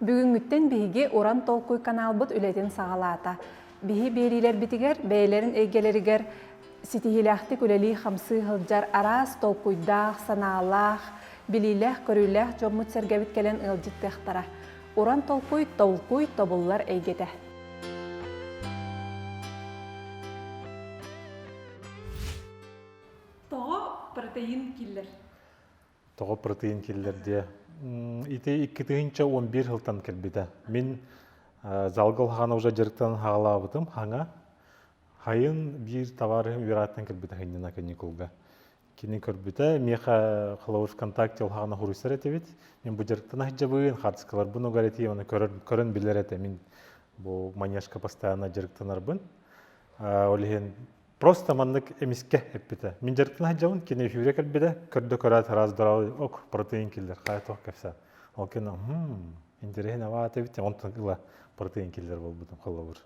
Бүгүҥҥүттэн биһиги Уран толкуй каналбыт үлэтин саҕалаата. Биһи биэриилэрбитигэр бэйэлэрин эйгэлэригэр ситиһиилээхтик үлэлии-хамсыы сылдьар араас толкуйдаах, санаалаах, билиилээх-көрүүлээх дьоммут-сэргэбит кэлэн ыалдьыттыахтара. Уран толкуй толкуй тобуллар эйгэтэ. Тоҕо протеин киллэр? тоҕо протеин киллэрдиэ ити иккитинчэ он биир сылтан кэлбитэ мин залга улахана уже дьарыктан хаалаабытым хаҥа хайын биир товар үөрааттан кэлбитэ хынньына каникулга кини көрбүтэ миэхэ холовой вконтакте улахана хуруйсар этибит мин бу дьарыктан аһдьабыын хардскаларбын угар этии оны көрөн билэр этэ мин бу манежка постоянно дьарыктанарбын ол иһин Просто маннык эмискэ эппитэ. Мин дьарыктан сылдьабын, кини эфиргэ кэлбитэ, көрдө-көрөөт раз здоровый ок протеин киллер хайа-туох кэпсээн. Ол кэннэ интэриэһин аваата эбит, онтон ыла протеин киллер буолбутум холобур.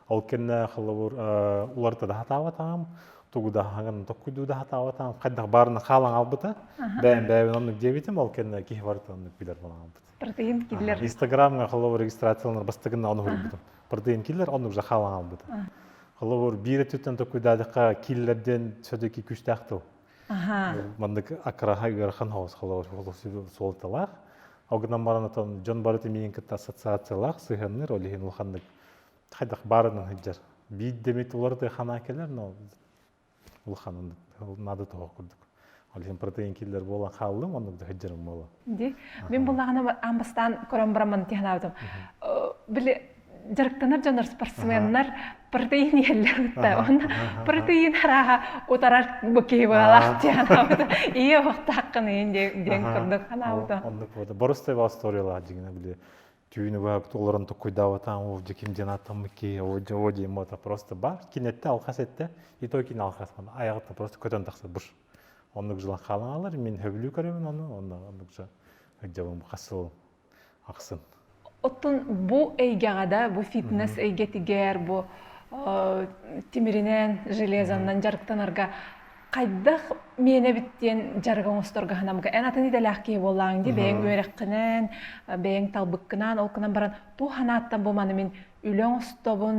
Ол кэннэ холобур уларыта да сатаабатаҕым, тугу да хаган tokkуйду да сатаабатаҕым, хайдах баарына хаалан хаалбыта. Бэйэм бэйэбин оннук диэбитим, ол кэннэ киһи барыта оннук билэр буолан хаалбыт. Протеин киллер. Инстаграмҥа холобур регистрацияланар бастыгыннаҕын уһуруйбутум. Протеин киллер оннук жахаалан албыта. Холобур, биир өттүттэн токуйдаадыкка киллер диэн сөдүки күстээх тыл. Маннык акраха ыарахан хоос холобур суолталаах. Огынан баранатан дьон барыта миин кытта ассоциациялаах сыһыанныыр, ол иһин улаханнык хайдах баарынан сылдьар. Биир демит уларыта хана келер, но улаханын надо того курдук ол иһин протеин киллер буолан хааллым оннук да сылдьарым буолан ди мин буллаҕына аан бастаан кором браман тиһанабытым били дьарыктанар дьонор спортсменнар протеин иэллэбитэ онно протеин арааһа утарар бу киһи баалаах тиһанабыта ийэ охтааххын иин диэн диэн курдук ханаабыта оннук боруста его историялаах дьиҥинэ били түүн убаабыт олорон токкуйдаабатаҕым ол дьэ ким диэн ааттаммыт киһи оо дьэ оо диэм уота просто бар кин этте алхас этте и той кин алхасман айаҕыттан просто көтөн тахсар бур оннук жылан хаалан алар мин хөбүлүү көрөмүн ону онно оннук жа дьабым хасыл ахсын оттон бу эйгэҕэ да бу фитнес эйгэтигэр бу тимиринэн железаннан дьарыктанарга хайдах миэнэбит диэн дьарык оҥосторго ханамга эн атын идэлээх киһи буоллаҥ дии бэйэҥ үөрэххинэн бэйэҥ талбыккынан ол гынан баран туу санааттан бу маны мин үлэ оҥостобун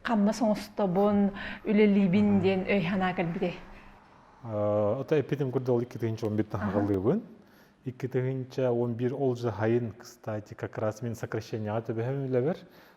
хамнас оҥостобун үлэлиибин диэн өй санаа кэлбитэ ото эпитим курдал икки тыһынча он бит таһалыыбын икки тыһынча он бир ол жаһайын кстати как раз мен сокращенияга төбөһөм үлэбэр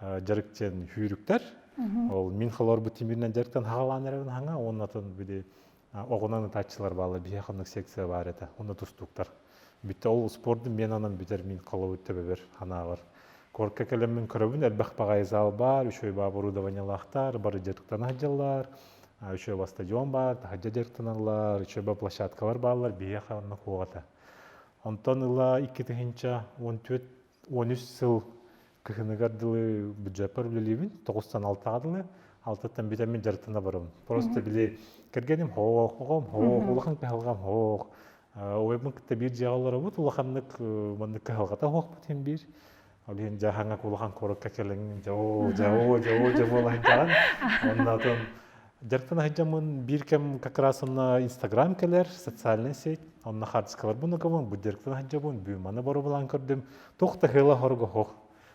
дьарыктен хүүрүктер ол мин холорбут тимиринен дьарыктан хаалаан эрэгин хаҥа уоннатын били оҕунан ытааччылар баалар биһи ханнык секция баар этэ онно тустуктар бүттэ ол спордун мен анан бүтэр мин холобут төбөбөр ханаабар корка кэлэммин көрөбүн элбэх паҕай зал бар үчөй баа оборудованиялаахтар бары дьарыктан аһдьаллар үчөй ба стадион бар таһажа дьарыктаналлар үчөй ба площадкалар бааллар биһи ханна куоҕата онтон ыла икки тыһынча он он үс сыл кыһыныгар дылы бюджеппар үлэлиибин тоҕустан алтаҕа дылы алтаттан бүтэммин дьарыктана барабын просто били кэргэним һоох оҕом һоох улахан кыһалҕам һоох ойбун кытта биир дьиэҕэ олоробут улаханнык маннык кыһалҕата һоохпут иһин биир ол иһин дьааһаҥҥа улахан куоракка кэлэҥҥин дьэ оо дьэ оо дьэ оо дьэ буолаһын дьаҕан оннотун Дьарыктан сылдьаммын биир кэм как раз онно Инстаграм кэлэр, социальнай сеть, онно хаартыскаларбын укабын, бу дьарыктан сылдьабын, бүөмэни боробулаан көрдүм. Туох да хыла хоруга хох.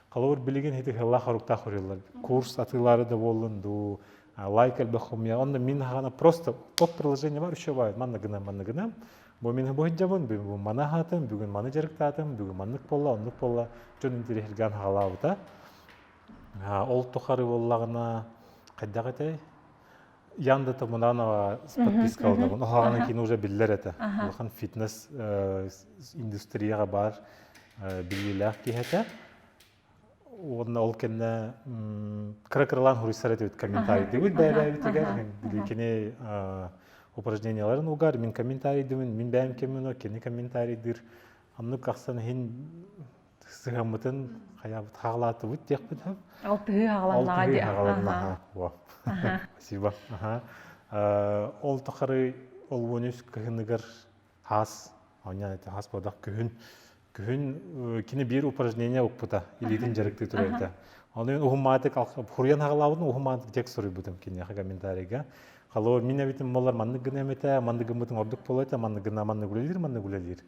Холобур, билигин ити хыла хоруктаах уруйаллар. Курс атыылары да буоллун дуу, лайк элбэх хомуйа. Онно мин хана просто тот приложение бар, еще бай, манна гынам, манна гынам. Бу мин бу хыджабын, бүгүн маны хаатым, бүгүн маны дьарыктаатым, бүгүн маннык болла, оннук болла. Дьон интеллигентgan хаалаабыта. Ол тухары буоллаҕына хайдах этэй? Янда Тамунанова подписка алынабын. Оһоҕынан кини уже биллэр этэ. Улахан фитнес индустрияҕа баар биллиилээх киһи этэ. Уонна ол кэннэ кыра кыралаан хоруйсар этибит комментарийдыыбыт бэйэбээбитигэр. Кини упражненияларын угар мин комментарийдыыбын, мин бэйэм кэммин кини комментарийдыыр. Аннык ахсан иһин сыһаммытын хайаабыт хаалаатыбыт диэхпит алтыһыы хааланнаҕа диэ хааланнаҕа спасибо ол тухары олуон үс кыһыныгар хаас онньан этэ хаас бодох күһүн күһүн кини биир упражнение укпута илиитин дьарыктыы туруйата оны уһумаатык хуруйан хагалаабытын уһумаатык дьек суруйбутум киниэхэ комментарийга халоо мин эбитим болар маннык гына эмэтэ маннык гыммытын ордук болуйта маннык гына маннык үлэлиир маннык үлэлиир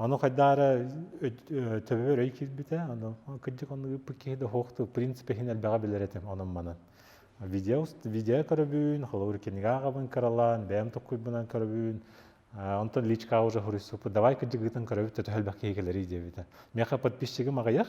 Ону хайдаары төбөбөр өй киирбитэ, ону кырдьык ону ыппыт киһи да суох тыл принципэ иһин элбэҕи билэр этим онон манан. Видео видео көрөбүн, холобур кинигэ аҕабын кыралаан, бэйэм токкуйбунан көрөбүн. Онтон личка уже хуруйсуппут, давай кырдьыгытын көрөбүт төтө элбэх киһи кэлэрий диэбитэ. Миэхэ подписчигым аҕыйах,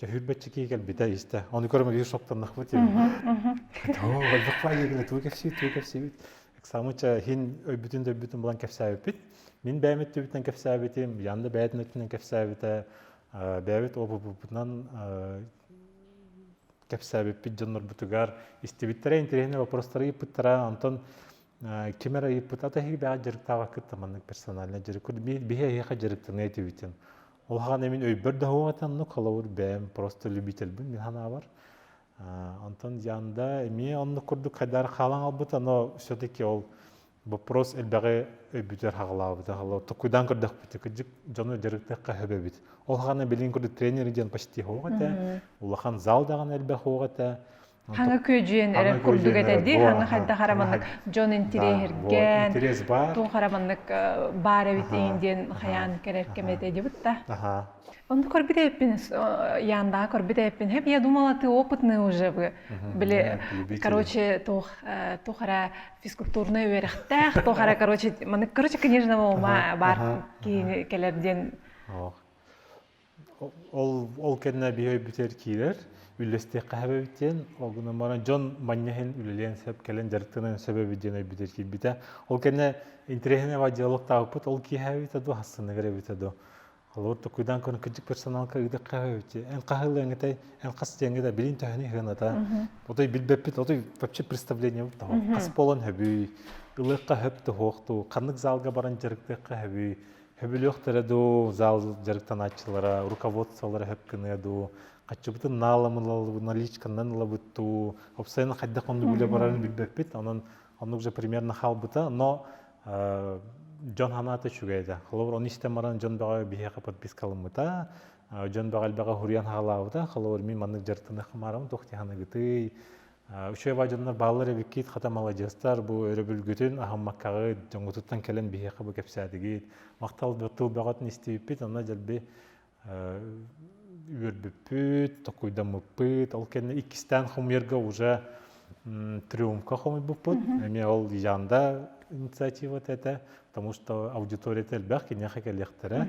Чөһүрбэччи кии кэлбитэ истэ. Ону көрөмөлүүр соктаннахпыт диэн. Оо, өлбөхпаа диэбинэ тугу кэпсиибит, тугу кэпсиибит. Эксамыча иһин өйбүтүн да өйбүтүн булан кэпсээбиппит. Мин бэйэм өттүбүттэн кэпсээбитим, Янда бэйэтин өттүнэн кэпсээбитэ, бэйэбит опыппытынан кэпсээбиппит дьоннорбутугар истибиттэрэ интэриэһинэй вопростары ыйыппыттара онтон ким эрэ ыйыппыт ата иһигибэҕэ дьарыктаабаккыт маннык персональный дьарык биһи эһиэхэ дьарыктаныа этибитин Улахан эмин өйбөр да хугатаннык, холобур, бэйэм просто любительбин санаабар. Онтон яанда эмиэ оннук курдук хайдаар хаалан албыт, ано все-таки ол вопрос элбэҕи өйбүтэр хагалаабыта хало тукуйдан көрдөхпүтэ кыдьык дьону дьарыктахха хөбөбүт. Ол хана билин курдук тренер диэн почти хуох этэ, улахан зал даҕан элбэх хуох этэ. хаҥа күөдьүйэн эрэр курдук этэ дии хаҥа хайдах ара маннык дьон интириэһиргээн туох ара маннык баар эбит иин диэн хайаан кэлэр кэм этэ дьыбыт да онну көрбүт эппин яандаҕа көрбүт эппин хэп я думала ты опытный уже бы били короче туох туох ара физкультурнай үөрэхтээх туох ара короче маннык короче книжного ума бар киһини кэлэр диэн ол кэннэ биһи өйбүтүгэр киирэр үллэстиэххэ сөбөбүт диэн ол гынан баран дьон манньа иһин үлэлиэн сөп кэлэн дьарыктаныан сөбөбүт диэн өйбүтүгэр киирбитэ ол кэннэ интэриэһинэйбэ диалогтаабыппыт ол киэһэбитэ дуо хассаныгар эбитэ дуо холобур токуйдаан көрөн кырдьык персоналка ыытыхха сөбөбүт эн хаһыылыаҥытай эн хас диэҥҥэ да билин төһөнү сыаната отой билбэппит отой вообще представлениебыт того хас буолан сөбүй ылыахха сөп тоһуохтуу ханнык залга баран дьарыктыахха сөбүй Хөбүлүөхтэрэ дуу, зал дьарыктанааччылара, руководстволара хөпкыныа дуу, хаччыбытын нааламылалыбына личканан ылабыт дуу, обстоятельно хайдах оннук үлэ барарын билбэппит, онон оннук же примерно хаалбыта, но дьон санаата үчүгэй да. Холобур, ону истэн баран дьон бөҕө биһиэхэ подпискаламмыта, дьон бөҕө элбэҕи хуруйан хаалаабыта, холобур, мин маннык дьарыктаныахха маарабын, туох диһаныгытый, Учуйа дьоннор бааллар эбиккит, хата маладьыастар, бу өрөбүлгүтүн аһыммаккаҕыт, дьоҥҥутуттан кэлэн биһиэхэ бу кэпсээтигит, махтал тыл бөҕөтүн истибиппит, онно дьэлби үөрбүппүт, токуйдаммыппыт, ол кэннэ иккистээн хомуйарга уже трюмка хомуйбуппут, эмиэ ол Янда инициатива этэ, потому что аудиторията элбэх, киниэхэ кэлиэхтэрэ.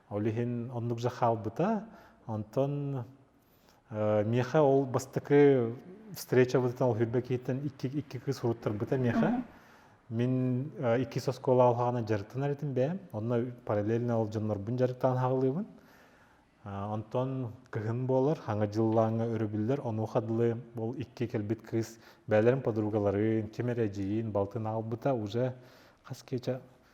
Ол иһин оннук же хаалбыта. Онтон миэхэ ол бастакы встречабытыттан ол хүрбэ киһиттэн икки, икки кыыс уруттарбыта миэхэ. Мин иккис оскуола алхаана дьарыктанар этим бэйэм. Онно параллельно ол дьоннорбун дьарыктаан хаалыыбын. Онтон кыһын буолар, хаҥа дьыллааҥҥа өрөбүллэр. Онуоха дылы ол икки кэлбит кыыс бэйэлэрин подругаларын, ким эрэ эдьиийин балтын аалбыта уже хас киэчэ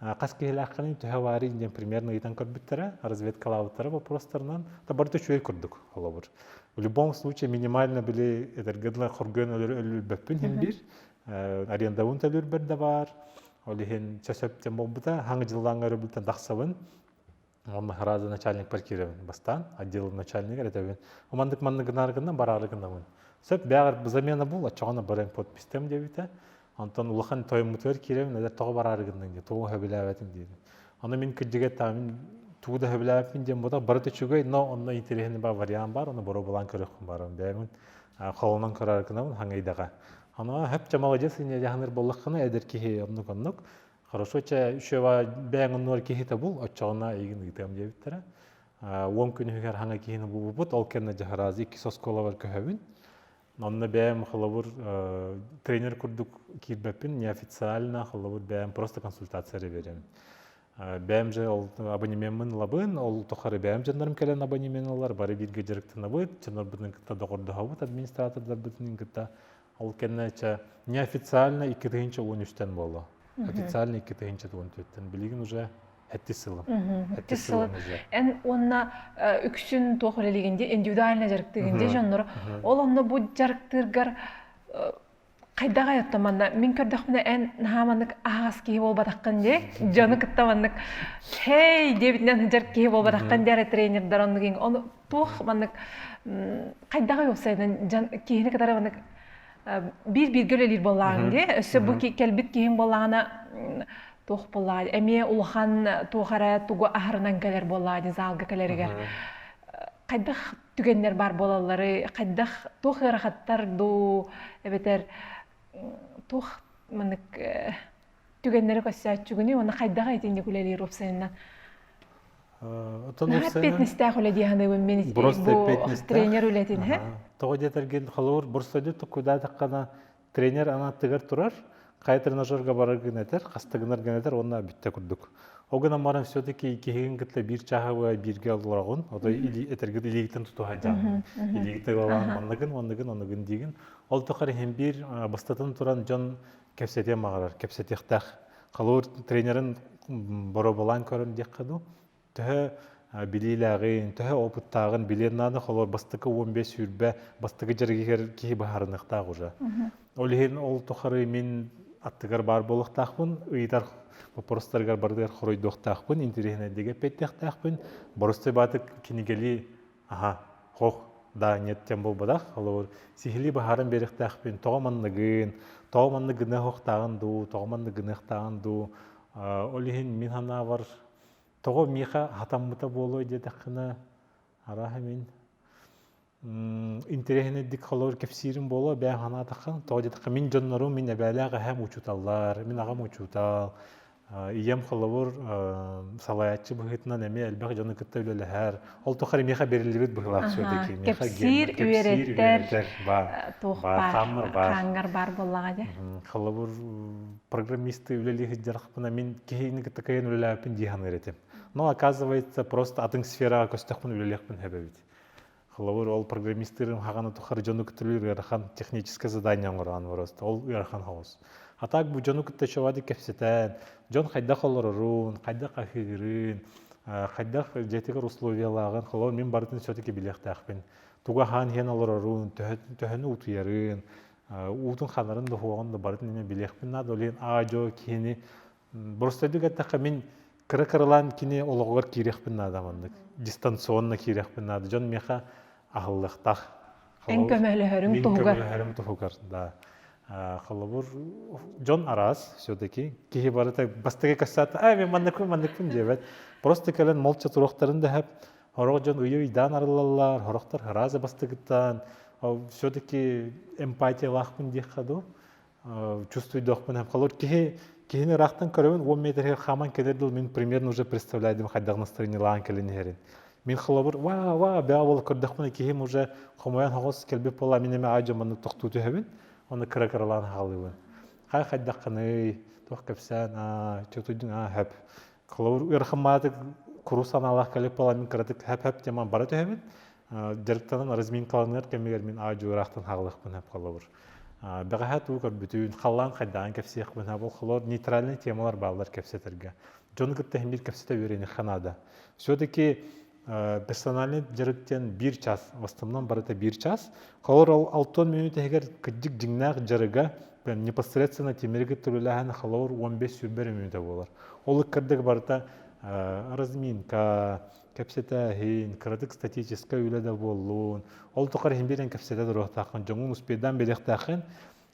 хас киһилээххиний төһө баарый диэн примерно ыйытан көрбүттэрэ разведкалаабыттара вопростарынан да барыта үчүгэй курдук холобур в любом случае минимально били эдэргэ дылы хоргуйан өлөрбөппүн иһин биир арендабын төлүүрбэр да баар ол иһин сөп сөптөн буолбута хаҥы дьыллааҥҥа өрөбүлтэн тахсабын Маһараады начальник партиябын бастаан, отделым начальнигар этэбин. Умандык маннык гынар гынна, бараары гыннабын. Сөп бэҕэр замена бол, оччоҕуна барыан подпистем диэбитэ. Онтон улахан тойоммутугар киирэбин, элэр тоҕо бараары гынныҥ диye, тоҕо хөбүлээбэтин диэтим. Аны мин кырдьыга эттэҕим, тугу да хөбүлээбиппин диэн бодох барыта үчүгэй, но онно интэриэһинэй бар вариант бар, оны боруобалаан көрүөххүн баран. Бэйэҥ холонон көрөр гынабын, хангайдаҕа. Аны хөп чамаладьас инэ дьаһаныр боллаххына эдэр киһи оннук оннук. Хорошо, чэ, үшева бэйэң оннугар киһитэ бул, отчоҕуна эйигин ыытыам диэбиттэрэ. Уон күн үһүгэр хаҥа киһини булбупут, ол кэннэ дьаһараз иккис оскуолабар көһөбүн. Онно бэйэм холобур тренер курдук киирбэппин, неофициально холобур бэйэм просто консультация берем. Бэйэм же ол абонемеммын ылабын, ол тухары бэйэм дьоннорум кэлэн абонемен ылар, бары бииргэ дьарыктанабыт, дьоннорбутун кытта доҕордоһобут, администратордорбутун кытта Ол кэннэ неофициально икки тыһыынча уон үстэн буолла. Официально икки тыһыынча уон төрттен. Билигин уже эттис сылым. Эттис сылым уже. Эн уонна үксүн туох үлэлигин де индивидуально дьарыктыгын де дьоннор. Ол онно бу дьарыктыыргар хайдах айотто манна мин көрдөхпүнэ эн наһаа маннык аһаҕас киһи буолбатаххын дии дьону кытта маннык хей диэбитинэн сыдьар киһи буолбатаххын диэри тренердэр оннугин туох маннык хайдах уопсайынан дьон киһини кытары маннык биир бииргэ үлэлиир буоллаҕын дии өссө бу кэлбит киһиҥ буоллаҕына туох буоллаа эмиэ улахан туох эрэ тугу аһарынан кэлэр буоллаа дии залга кэлэригэр хайдах түгэннэр баар буолаллары хайдах туох ыарахаттар дуу эбэтэр туох маннык түгэннэри көрсөөччүгүнүй уонна хайдах итинник үлэлиир уопсайынан Атан эппиэтинэстээх үлэ дии саныыбын мин тренер үлэтин һэ тоҕо диэтэргин холобур борстойду туккудаатаххана тренер анааттыгар турар хай тренажерга барар гын этер хастыгынар гын этер онна бүтте курдук ол гынан баран все-таки иккиһигин кытта биир чаһабы биирге олорогун ото этергит илигитин тутуһайдам илигити балан манныгын оннугун оннугун диигин ол тухар иһин биир бастатын туран дьон кэпсэтиэн баҕарар кэпсэтиэхтээх халуур тренерин боробулаан көрөн диэххэ дуу төһө билиилээҕин төһө опыттааҕын билиэн наада холор бастакы уон бес сүүрбэ бастакы дьэргигэр киһи быһаарыныахтаах уже ол иһин ол тухары мин аттыгар баар буолуохтаахпын ыйытар вопростарыгар барытыгар хоройдуохтаахпын интириэһинэйдик эппиэттиэхтээхпин боростой бааты кинигели аһа хох да ниэттэн буолбатах олор сиһилии баһаарын биэрэхтээхпин тоҕо манныгын тоҕо манныгыныах охтааҕын дуу тоҕо манныгыныахтааҕын дуу ол иһин мин санаабар тоҕо миэхэ хатаммыта буолуой диэтэххинэ арааһа мин интэриэһинэйдик холобур кэпсиирим буолуо бэйэм санаатаххын тоҕо диэтэххэ мин дьоннорум мин эбээлээх эһээм учууталлар мин аҕам учуутал ийэм холобур салайааччы быһыытынан эмиэ элбэх дьону кытта үлэлэһэр ол тухары миэхэ бериллибит быһыылаах все-таки кэпсиир үөрэтэр хаангар баар буоллаҕа дьэ холобур программисты үлэлии сылдьархпына мин киһини кытта кыайан үлэлээбиппин дии саныыр этим но оказывается просто атын сфераҕа көстөхпүн үлэлиэхпин сөбөбүт холобур ол программистырым хаҕаны тухары дьону кытары ыарахан техническое задание оҥороон бороста ол ыарахан хоҕус а так бу дьону кытта чобады кэпсэтэн дьон хайдах олорорун хайдах аһыырын хайдах дьиэтигэр условиялааҕын холобур мин барытын все-таки билиэхтээхпин туга хаан иһэн олорорун төһөнү утуйарын уутун ханарын да уһуоҕун да барытын эмиэ билиэхпин наада ол иһин аа дьо киһини просто үрдүк эттэххэ мин кыра-кыралаан кини олоҕугар киириэхпин наада маннык дистанционно киириэхпин наада дьон миэхэ аһыллыахтаах эн көмөлөһөрүҥ туһугар көмөлөһөрүм туһугар да холобур дьон араас все-таки киһи барыта бастакы касата а мен манныкпын манныкпын диэбэт просто кэлэн молча туруохтарын дэһэп сорох дьон уйуйдаан арыллаллар сорохтор арааза бастыгыттаан все-таки эмпатиялаахпын диэххэ дуу чувствуйдохпун холор киһи киһини ыраахтан көрөбүн уон метригэр хааман кэлэр дыл мин примерно уже представляю дим хайдах настроениялаан кэлин иһэрин мин холобур ва ва бэҕэ буола көрдөхпүнэ киһим уже хомойон хоҕос кэлбит буола мин эмэ ай дьоммуннук тохтуу түһэбин оны кыра кыралаан хаалыыбын хай хайдаххыный туох кэпсээн аа чутуйдуң аа хэп холобур ыарахан маатык куру санаалаах кэлбит буола мин кыратык хэп хэп тема бара түһэбин дьарыктанан разминкаланыар кэмигэр мин аадьылыраахтан хаалыахпын сөп холобур бэҕэһээ туу көрбүтүн халлаан хайдаан кэпсиэхпин сөп холобур нейтральный темалар бааллар кэпсэтэргэ дьону кытта иһимир кэпсэтэ үөрэниэххэ наада все-таки персональный дьарык диэн биир час в основном барыта биир час холобур ол алты минут иһигэр кырдьык дьиҥнээх дьарыга непосредственно тимириги тырылаһан холобур он бес сүүрбэр мүнөтэ буолар ол ыккардык барыта разминка кэпсэтээһин, кыратык статическай үлэ да буоллун, ол тухары иһин биирэн кэпсэтэ туруохтааххын, дьоҥҥун успейдаан билиэхтээххин,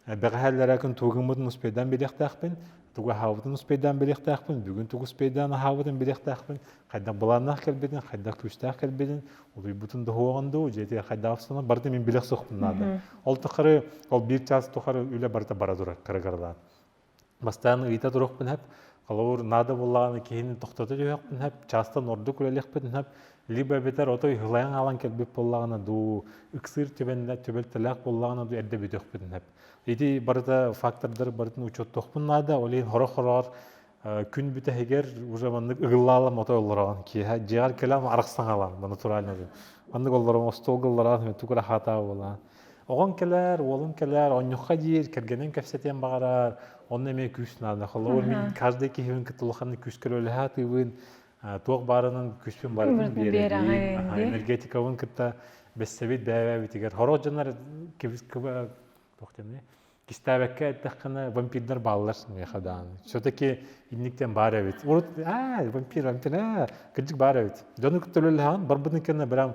бэҕэһээллэрэ күн туугуммутун успейдаан билиэхтээхпин, тугу аһаабытын успейдаан билиэхтээхпин, бүгүн тугу успейдаан аһаабытын билиэхтээхпин, хайдах былааннаах кэлбитин, хайдах күүстээх кэлбитин, улуйбутун да уһуоҕун дуу, дьиэтигэр хайдах охсуну барыта мин билэх суохпун наада. Ол тухары ол биир чаас тухары үлэ барыта бара турар кырагаралаан. Бастаан ыйыта турахпын сөп, холобур, наада буоллаҕына киһини тохтото түһүөхпүн сөп, чаастан ордук үлэлиэхпин сөп, либо эбэтэр отой ыһылайан хаалан кэлбит буоллаҕына дуу, ыксыыр түбэлтэлээх буоллаҕына дуу эрдэ бүтүөхпүн сөп. Ити барыта фактордары барытын учуоттуохпун наада, ол иһин сорох-сорох күн бүтэһигэр уже маннык ыгыллаалам отой олороҕун киэһэ дьиэҕэр кэлэн арахсан хаалаҕын натурально диэн. Маннык олороҕун остуолга олороҕун түгүр аһаатаҕа буолаҕын Оҕоҥ кэлэр, уолуҥ кэлэр, онньукка диир, кэргэнин кэпсэтиэн баҕарар, онно эмиэ күүс наада. Холобур, мин каждый киһибин кытта улаханнык күүскэ үлэлэһэ атыыбын, туох баарынан күүспүн барытын биэрэбин. Энергетикабын кытта бэссэбит бэйэбитигэр. Хороох дьоннор кистээбэккэ эттэххинэ, вампирдар бааллар миэхэ даҕаны. Все-таки инниктэн баар эбит. Урут аа вампир, вампир аа кырдьык баар эбит. Дьону кытта үлэлэһэн барбытын кэннэ прям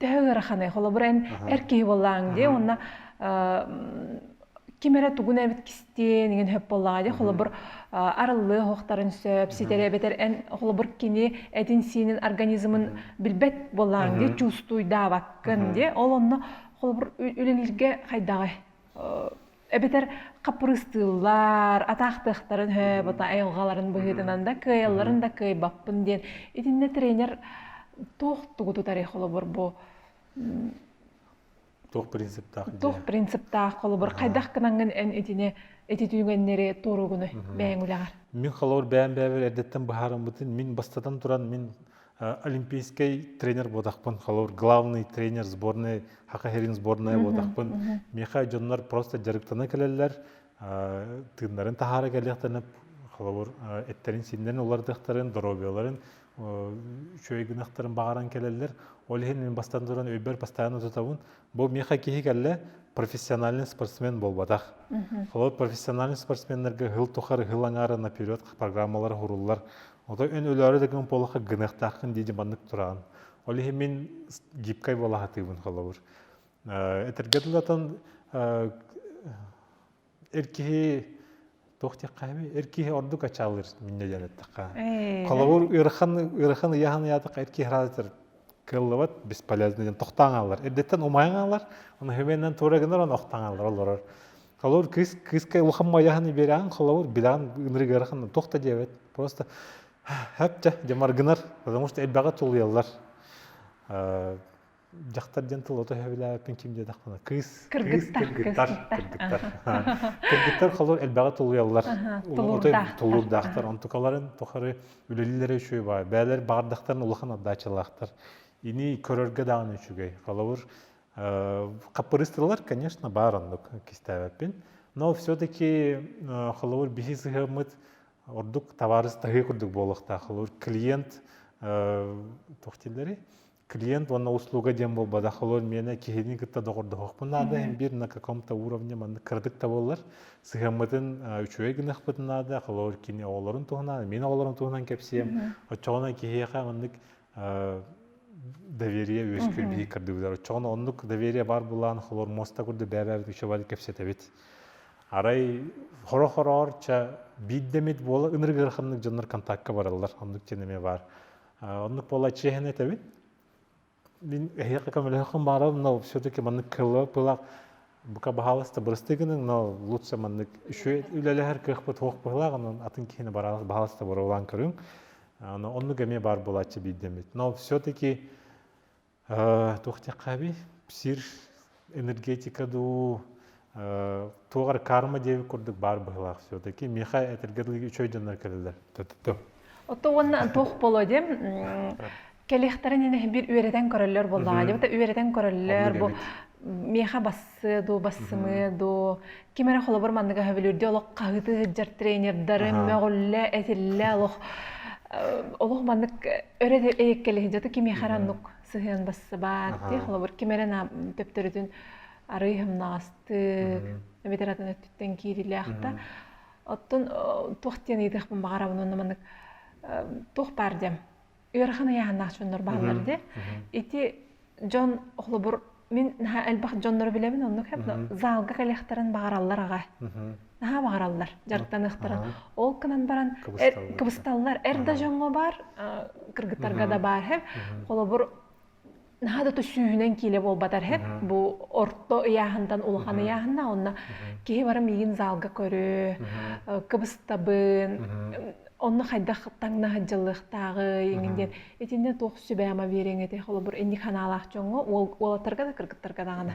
Төһө ыараханы, холобур эн эр киһи буоллаҥ дии, уонна ким эрэ тугун эбит кистиэн, иҥин хөп боллаа дии, холобур арыллыа оһохтарын сөп, ситэрэ эбэтэр эн холобур кини этин-сиинин организмын билбэт буоллаҥ дии, чувствуйдаабаккын дии, ол онно холобур үлэлииргэ хайдаҕы эбэтэр хаппырыстыыллар атаахтыахтарын һө бата айылҕаларын быһыытынан да кыайалларын да кыайбаппын диэн итиннэ тренер туох тугу тутарый холобур бу туох принциптаах туох принциптаах холобур хайдах гынаҥын эн итини ити түүҥэннэри туоругуну бэйэҥ үлэҕэр мин холобур бэйэм бэйэбэр эрдэттэн быһаарыммытын мин бастатан туран мин олимпийскай тренер буотахпын холобур главный тренер сборная хака херин сборная буотахпын миэхэ дьоннор просто дьарыктана кэлэллэр тыыннарын таһаара кэлиэхтэринэ холобур эттэрин сииннэрин уларытыахтарын доруобуйаларын үчүгэй гынахтарын баҕаран кэлэллэр ол иһин мин бастан туран өйбөр бастаан утутабын бу миэхэ киһи кэллэ профессиональный спортсмен буолбатах холобур профессиональный спортсменнарга ыһыл тухары ыһыл аҥаара наперед программалар уруллар Отой эн өлөөрү дагын полаха гыныахтаахкын дии маннык тураан. Ол иһин мин гибкай балаһатыыбын холобур. Этэргэ дылатан эр киһи туох диэххэ эр киһи ордук ачаалыр миннэ диэн эттэххэ. Холобур ыарахан ыарахан ыйахан ыйаатах эр киһи хараатар кыаллыбат бесполезно диэн тохтаан хааллар. Эрдэттэн умайан хааллар, оны хөвеннен тура гынар он охтаан хааллар олорор. холобур кыыс кыыска улахан майаһын ибирээн холобур билаан ынырыгырахан туох да диэбэт просто һэп дьэ дьэ маргынар потому что элбэҕи тулуйаллар дьахтар диэн тылы ото өһөбүлээбиппин ким диэтэхпинэ кыыс кыргыттар кыргыттар кыргыттар холор элбэҕи тулуйаллар тулуурдаахтар онтукаларын тухары үлэлиилэрэ үчүгэй баай бээлэр баҕардахтарын улахан аддаачалаахтар ини көрөргө даҕаны үчүгэй холобур Хаппырыыстылар, конечно, баар оннук кистээбэппин, но все-таки холобур биһи сыһыаммыт ордук табаарыстаһыы курдук буолуохтаах. Холобур клиент туох дииллэрий? клиент уонна услуга диэн буолбатах олор миэнэ киһини кытта доҕордоһуохпун наада эн биир на каком-то уровне маннык кыратык да буоллар сыһыаммытын үчүгэй гыныахпытын наада холобур кини оҕолорун туһунан мин оҕолорум туһунан кэпсиэм оччоҕуна киһиэхэ маннык доверие үөскүүрбүт көрдүбүтэр оччоҕуна оннук доверие бар булаан холор муоста курдук бэбэбит үшебали кэпсэтэбит арай хоро хороорча биирдэмит буола ыныргырханнык дьоннор контактка бараллар оннук дьон эмиэ баар оннук буола чиэһин этэбин мин эһиэхэ көмөлөһөххүн баарым но все-таки маннык кылах бука баһааласта бырастыгының но лучше маннык үчү үлэлэһэр кыахпыт туох быһылаах онон атын киһини баһааласта боруолаан көрүҥ Ону оннук эмиэ баар буолааччы биирдэмит. Но все-таки тухтехаби псир энергетика дуу туогар карма диэби курдук баар быһылаах все-таки миэхэ этэргэ дылы үчөй дьоннор кэлэлэр төттө Отто уонна туох боло де кэлиэхтэрин инэ бир үөрэтэн көрөллөр буоллаҕа дии үөрэтэн көрөллөр бу миэхэ бассыы дуу бассымыы дуу ким эрэ холобур манныга хөбүлүүрдүү олох хаһыты сыддьар тренердарын мөҕүллэ этиллэ олох олох маннык өрө эйэккэлиһи кимиэхэр аннук сыһыан бассыбаат ти холобур ким эрэ төптөрүтүн арый хымнаҕастык эбэтэр атын өттүттэн киирилээх да оттон туох диэн ыйытыахпын баҕарабын онно маннык туох баар диэм ыарахан ыйааһыннаах дьоннор бааллар дии. Ити дьон холобур мин наһаа элбэх дьоннору билэбин оннук хеп заалга кэлиэхтэрин баҕараллар аҕа. Наһаа баҕараллар дьарыктаныахтарын. Ол гынан баран кыбысталлар. Эр да дьоҥҥо баар, кыргыттарга да баар хеп. Холобур наһаа да сүүһүнэн киилэ буолбатар хэт бу орто ыйааһынтан улахан ыйааһынна онно киһи бара миигин залга көрө кыбыстабын онно хайдах таҥнаһыт дьыллыахтааҕый эҥин диэн итиннэ туох сүбэ ама биэриэҥ этэ холобур инник ханаалаах дьоҥҥо уолаттарга да кыргыттарга даҕаны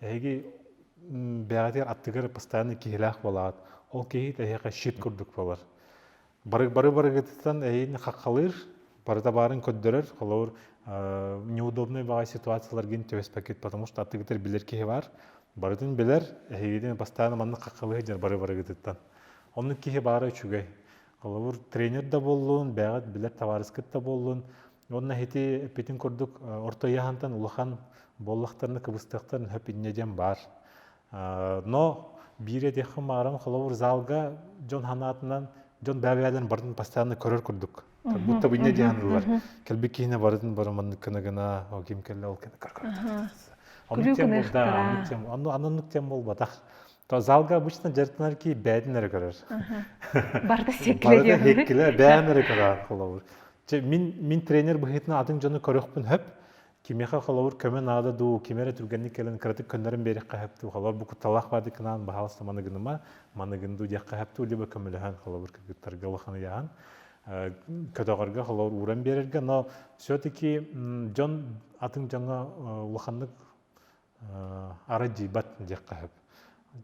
Эһиги бэйэҕитигэр аттыгар постоянно киһилээх буолаҕыт. Ол киһи эһиэхэ щит курдук буолар. Бары бары барыгытыттан эйиин хаххалыыр, барыта баарын көрдөрөр. Холобур, неудобнай баҕай ситуацияларгын түбэспэккит, потому что аттыгытыгар билэр киһи бар. Барытын билэр, эһигитин постоянно маннык хаххалыы сылдьар бары барыгытыттан. Оннук киһи баара үчүгэй. Холобур, тренер да буоллун, бэйэҕит билэр табаарыскыт да буоллун, Уонна ити эппитин курдук орто ыйаһантан улахан буоллахтарына кыбыстыахтарын сөп инньэ диэн баар. Но биире диэххэ мааран холобур залга дьон санаатынан дьон бэбээлэрин барын постоянно көрөр курдук. Как будто бы инньэ диэн ылар. Кэлбит киһинэ барытын бары маннык кына гына ол ким кэллэ ол кына көр көр. Оннук тем да, оннук тем оннук тем болбатах. то залга обычно дьарыктанар ки бэйэтин эрэ көрөр барыта секкилэ диэн секкилэ бэйэм эрэ көрөөх холобур мин мин тренер быһыытынан атын дьону көрөхпүн хөп кимиэхэ холобур көмө наада дуу ким эрэ түргэнник кэлэн кыратык көннөрөн биэриэххэ хөп дуу холобур бу кутталаах баады кынаан баһаалыста маныгыныма маныгын дуу диэххэ хөп дуу либо көмөлөһөн холобур кыргыттарга улаханы яһан көтөҕөргө холобур ууран биэрэргэ но все таки дьон атын дьоҥҥо улаханнык ара дьыйбат диэххэ сөп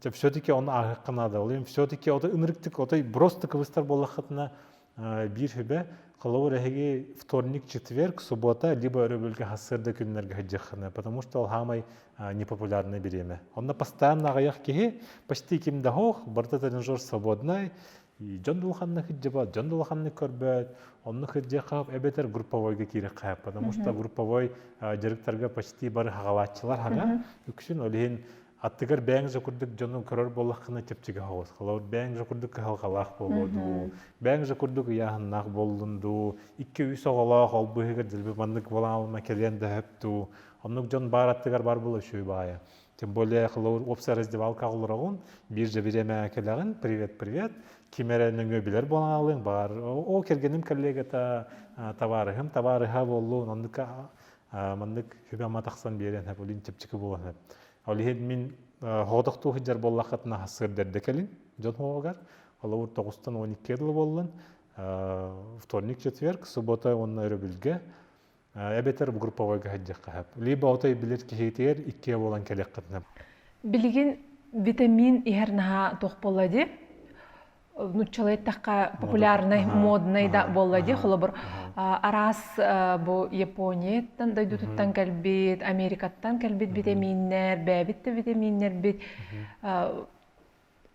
дьэ все-таки ону ааһыахха наада ол все-таки отой ынырыктык отой просто кыбыстар буоллаххытына биир сүбэ холобур эһиги вторник четверг суббота либо өрөбүлгэ хас сырда күннэргэ сылдьыаххына потому что ол саамай непопулярный бириэмэ онно постоянно аҕыйах киһи почти ким да суох барыта тренажер свободнай дьон улаханнык кырдьыбат дьон улаханнык көрбөт онно кырдьыахха эбэтэр групповойга киириэххэ потому что групповой дьарыктарга почти бары хаҕалааччылар хана үксүн ол иһин аттыгар бэйэҥ же курдук дьону көрөр буоллаххына чэпчэки хоҕус халар бэйэҥ же курдук кыһалҕалаах буолуо дуу бэйэҥ же курдук ыйааһыннаах буоллун дуу икки үс оҕолоох ол быыһыгар дьылбы маннык буолаалма кэлиэн да сөп дуу оннук дьон баар аттыгар бар була үчүгэй баайа тем более холобур уопсай раздевалка оҕолороҕун биир дьэбириэмэҕэ кэлэҕин привет привет ким эрэ нөҥүө билэр буолаалыҥ баар ол кэргэним коллегата табаарыһым табаарыһа буоллун оннук маннык сүбэ ама тахсан биэриэн сөп олин чэпчэки буолан сөп ол иһин мин хоотохтуу сылдьар буоллаххытына сырдэрдэ кэлин дьон хоһугар холобур тоҕустан он икки дылы буоллун вторник четверг суббота уонна өрөбүлгэ эбэтэр групповой каһаддьахха хап либо отой билир киһитигэр иккиэ буолан кэлэххытына билигин витамин иһэр наһаа туох буолла ди нуччалайтахха популярнай моднай да буолла ди холобур араас бу японияттан дойдутуттан кэлбит америкаттан кэлбит витаминнэр бэбит да витаминнэрбит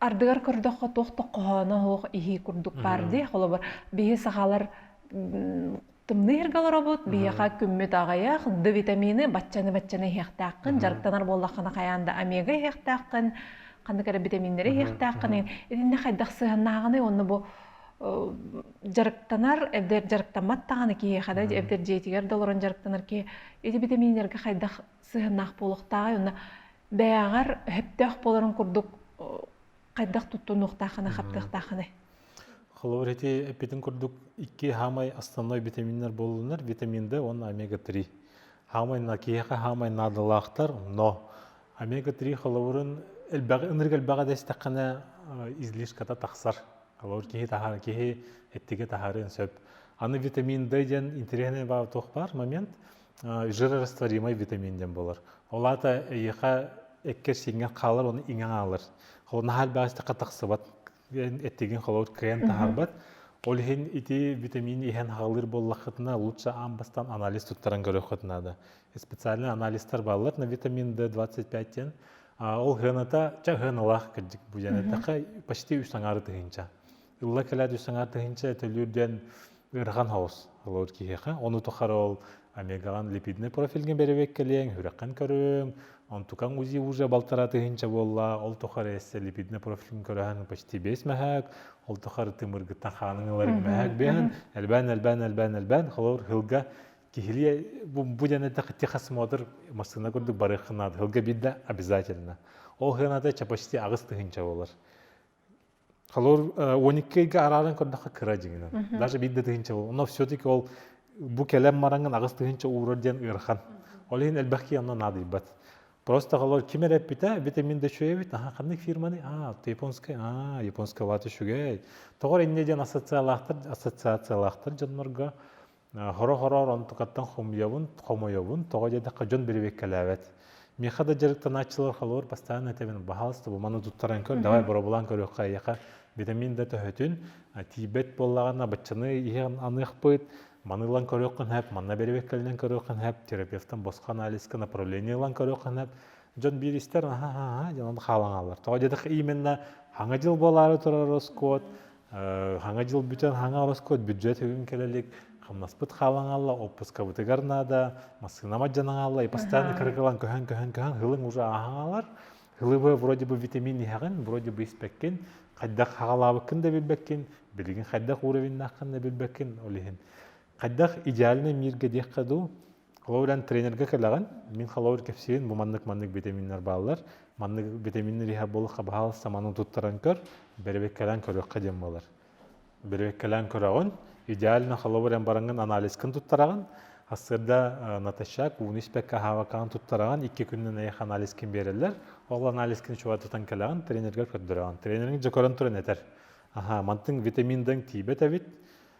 ардыгар көрдөххө туох тоххоһооно суох иһии курдук баар дии холобур биһи сахалар тымныы ыргаларобут биһиэхэ күммүт аҕыйах д витамины баччаны баччаны иһиэхтээххин дьарыктанар буоллаххына хайаан да омега иһиэхтээххин ханнык эрэ битаминнэри иһиэхтээххин итиннэ хайдах сыһаннааҕыный онно бу дьарыктанар эбдэр дьарыктаммат даҕаны киһиэхэ да эбдэр дьиэтигэр да олорон дьарыктанар киһи ити битаминнэргэ хайдах сыһыаннаах буолуохтааҕай уонна бэйэҕэр сөптөөх буоларын курдук хайдах туттунуохтааххына хаптыахтааххыный холобур ити эппитин курдук икки хаамай основной витаминнар буоллунар витамин д уонна омега три хаамай киһиэхэ хаамай наадалаахтар но омега три холобурун элбэҕи ынырык элбэҕи дэстэххинэ излишката тахсар холобур киһи таһар киһи эттигэ таһарыан сөп аны витамин д диэн интересный баҕа туох баар момент жирорастворимый витамин диэн буолар. Ол аата эйиэхэ эккэ-сииҥҥэ хаалар уонна иҥэн хаалар. Наһаа элбэхтэ тахсыбат эттигин холобур кыайан таһаарбат. Ол иһин ити витамин иһэн хаалыр буоллаххытына лучше аан бастан анализ туттаран көрүөххүт наада. Специальный анализтар бааллар на витамин D25 диэн. Ол сыаната ча сыаналаах кырдьык бу диэн. Такка почти үс аҥаары тыһыынча. ылла кэлээт үс саҥа тыһынча этэлүүр диэн ыарахан хаос олор киһиэхэ ону тухары ол омегаҕан липидный профильга бэрэбиэккэлиэҥ үрэххин көрүҥ онтукаҥ узи уже балтараа тыһынча буолла ол тухары эссе липидный профилин көрөһөн почти бэс мэһэк ол тухары тымыргыттан хаанын ыларыҥ мэһэк бэһэн элбээн элбээн элбээн элбээн холор хылга киһилиэ бу дьаны тихас смотр массыына курдук барыаххын наада хылга бидда обязательно ол хыаната почти аҕыс тыһынча болар Халор он екі ыйга арааран көрдөххө кыра дьиҥинэн. Даже биир да тыһынча ол. Но все-таки ол бу кэлэн мараҥын аҕыс тыһынча уурар диэн ыарахан. Ол иһин элбэхки онно наадыйбат. Просто халор ким эрэ эппитэ, бите мин дэчүөбүт, аха ханнык фирманы? А, ты японскай? А, японская вата үчүгэй. Тоҕор инньэ диэн ассоциациялаахтар, ассоциациялаахтар дьоннорго Хоро-хороор онтукаттан хомуйабын, хомойобун, тоҕо диэтэххэ дьон бэрэбиэккэлээбэт. Миэхэ да дьарыктанааччылар халыр бастаан этэбин, баһаалыстыба маны туттаран көр, давай боробулаан көрүөххэ эйиэхэ витамин да төһөтүн, тиийбэт буоллаҕына баччаны иһэн аныахпыт, маны ылан көрүөххүн сөп, манна бэрэбиэккэлинэн көрүөххүн сөп, терапевтан босхо анализка направление ылан көрүөххүн сөп. Дьон биир истэр, аһа, аһа, дьон хаалаҥалар. Тоҕо диэтэххэ именно Саҥа дьыл буолаары турар ороскуот, Хаҥа дьыл бүтэн хаҥа ороскуот бүддьүөт бүгүн кэлэ илик хамнаспыт хаалан хаалла отпускабытыгар наада массыына мадьдьанан хаалла и постоянно кырыкылан көһөн көһөн көһөн хылыҥ уже ааһан хаалар хылыбы вроде бы витамин иһэҕин вроде бы испэккин хайдах хаҕалаабыккын да билбэккин билигин хайдах уровеннааххын да билбэккин ол иһин хайдах идеальный миргэ диэххэ дуу Ол эрэн тренергэ кэлэҕин, мин холобур кэпсиирин бу маннык-маннык витаминнар бааллар. Маннык витаминнар иһэ буоллахха баһаал саманы туттаран көр, бэрэбиэркэлээн көрүөххэ диэн буолар. Бэрэбиэркэлээн көрөҕүн, идеально холобур эн бараҥҥын анализкын туттараҕын, Ассырда натощак, ууну испэккэ аһаабаккаҕын туттараҕын, икки күннэн эйэх анализкин биэрэллэр. Ол анализкин чугатытан кэлэҕин, тренергэр көрдөрөҕүн. Тренериҥ дьа көрөн туран этэр, аһаа, мантыҥ витаминдыҥ тиийбэт эбит,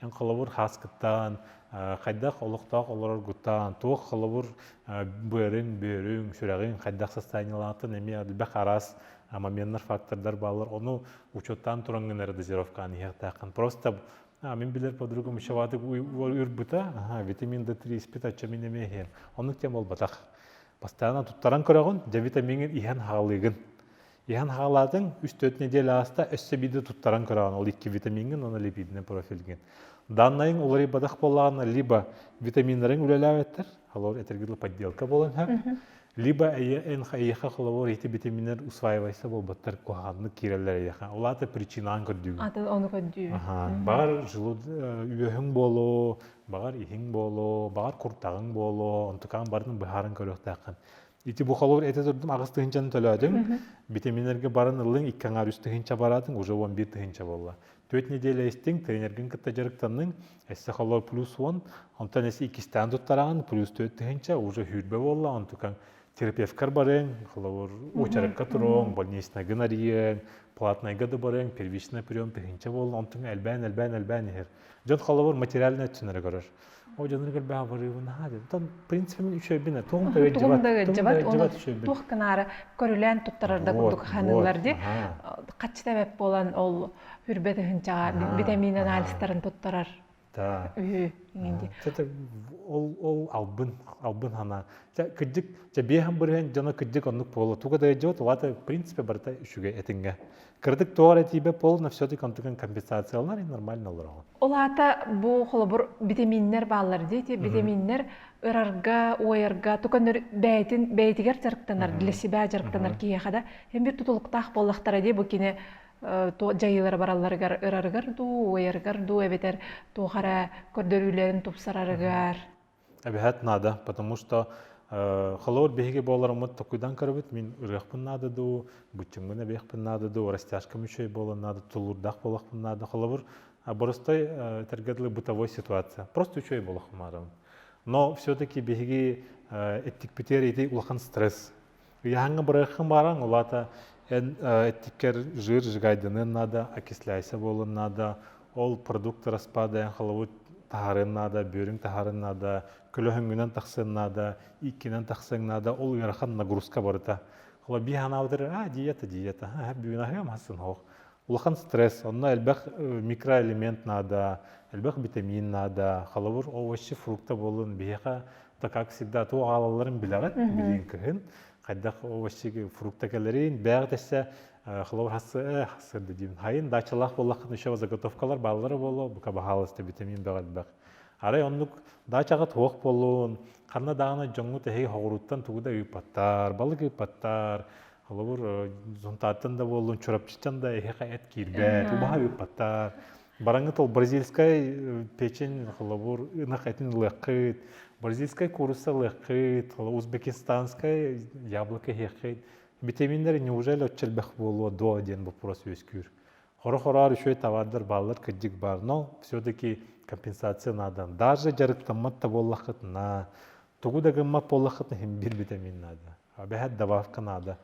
Эн холобур хааскыттаан, хайдах олохтоох олороргутаан, туох холобур быарыҥ, бүөрүҥ, сүрэҕиҥ хайдах состояниелаахтын эмиэ элбэх араас моменнар, фактордар бааллар. Ону учуоттаан туран гына дозировкааны иһиэхтээххин. Просто мин билэр подругум учебатык уйбута, витамин D3 испит аччамин эмиэ иһиэн. Оннук кэм буолбатах. Бастаан туттаран көрөҕүн, дьэ витамиҥҥын иһэн хаалыыгын. Иһэн хаалаатыҥ, үс төрүт нэдиэлэ ааста, өссө биирde туттаран көрөҕүн, ол икки витамиҥҥын уонна липидный профилгин. Даннайыҥ уларыйбатах буоллаҕына, либо витаминнарыҥ үлэлээбэттэр, халор этэргил подделка буолан иһэр, либо эйиэхэ холобур ити витаминнар усваивайса буолбаттар куһаҕаннык киирэллэр эйиэхэ. Ол аата причинаан көрдүүгүн. Аты ону көрдүү. Баҕар желуд үөһүҥ буолуо, баҕар иһиҥ буолуо, баҕар куртаҕыҥ буолуо, онтукаан барытын быһааран көрүөхтээххин. Ити бу холобур этэ турдум, аҕыс тыһынчаны төлөөдүҥ, битэминэргэ баран ыллыҥ, икки аҥаар үс тыһыынча бараатыҥ, уже он бір тыһыынча буолла. Түөрт неделя истиҥ, тренергин кытта дьарыктанныҥ, эссе холобур плюс он, онтон эссе иккистээн туттараҕын, плюс төрт тыһыынча, уже хүрбэ буолла, онтукаҥ терапевткар барыаҥ, холобур, очеркка туруоҥ, больничнайга нарыйыаҥ, платнайга да барыаҥ, первичный прием тыһыынча буолла, онтуҥ элбээн, элбээн, элбээн иһэр. Дьон холобур материальнай өттүнэрэ көрөр. О дьонур кэлбэҕэ наһаа деді. Тон принцип мин үчөйбүнэ туох да өйдүбэт туох да өйдүбэт үчөйбүн. Туох гынаары көрүлээн туттарарда курдук ханылар ди хаччыта эбэп буолан ол үрбэт ыһынчаҕа витамин анализтарын туттарар үһү инди. ол ол албын албын хана кырдык жа биэһэн бырыһын дьоно кырдык оннук буола туга да өйдүбэт улаата принципе барыта үшүгэ этиҥҥэ Кырдык туох эрэ тиийбэ полно все-таки онтукан компенсациялар и нормально олороҕун. Ол аата бу холобур битэмииннэр бааллар дии, те битэмииннэр ырарга, уойарга туканныр бэйтин бэйтигэр жарыктанар, для себя жарыктанар киһиэхэ да эмбир тутулуктаах буоллахтара дии бу кине дьайыылара баралларыгар ырарыгар дуу, уойарыгар дуу эбэтэр туох эрэ көрдөрүүлэрин тупсарарыгар эбэһэт наада потому что э, холобур биһиги буоларыммыт токуйдан көрөбүт мин ырыахпын наада дуу быччымгын эбиэхпин наада дуу растяжкам үчүгэй буолан наада тулуурдаах буолахпын наада холобур боростой тергедылы бытовой ситуация просто үчүгэй буолах маарабын но все таки биһиги эттикпитигэр ити улахан стресс Үйаһаҥҥа бырыаххын бааран, улаата эн эттиккэр жир жигайдыныан наада, окисляйся буолуон наада, ол продукт распаадайан халабыт таһарыан наада, бөрүҥ таһарыан наада, көлөһүҥҥүнэн тахсыан наада, иккинэн тахсыаҥ наада, ол ыарахан нагрузка барыта. Хола би ханаабытыр, а диета, диета, бүгүн аһыам хасын хоох. Улахан стресс, онно элбэх микроэлемент наада, элбэх витамин наада, халабыр овощи, фрукта буолун, биһиэхэ как всегда туох аалалларын билэҕит билиин кыһын хайдах вообще фрукта кэлэрин бээх дэссе хлор хассы хассырды диин хайын дачалаах боллахын еще заготовкалар бааллара боло бука баһаалыста витамин бэҕэлбэх арай оннук дачаҕа туох боллун ханна даана дьоҥҥут эһи хоҕуруттан тугу да ыыппаттар балык ыыппаттар Холобур, Зонтаттан да буоллун, Чурапчыттан да эһиэхэ эт киирбэт, убаһа ыыппаттар. Бараҥытал бразильскай печень, холобур, ынах этин ылыаххыт, бразильскай куруса ылыаххыт, узбекистанскай яблоко иһиэххит. Витаминнэр неужели отчэлбэх буолуо дуо диэн боппуруос үөскүүр. Хоро-хораар үчүгэй табаардар бааллар кырдьык баар, но все-таки компенсация наада. Даже дьарыктаммат да буоллаххытына, тугу да гыммат буоллаххытына, иһин витамин наада. Бэһэт добавка наада.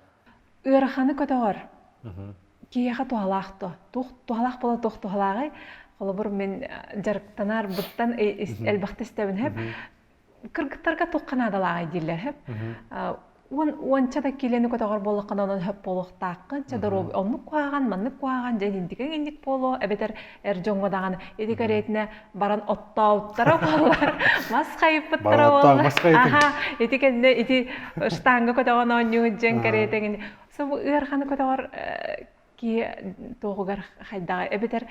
Ыараханы көтөҕөр. Киһиэхэ туһалаах дуо? Туох туһалаах буола туох туһалааҕый? Холобур, мин дьарыктанаарбыттан элбэхтэ истэбин сөп. Кыргыттарга туохха наадалааҕый дииллэр сөп. Уон уонча да киилэни көтөҕөр буоллаххына онон сөп буолуохтааххын. Чэ доруобуй оннук куһаҕан, маннык куһаҕан, дьэ индикиҥ индик буолуо, эбэтэр эр дьоҥҥо даҕаны ити кэриэтинэ баран оттообуттара буоллар мас хайыппыттара буоллар аха ити кэннэ ити штанга көтөҕөн оонньуун дьиэн кэриэтэгин субу ыарханы көтөҕөр ки туохугар хайдаҕа эбэтэр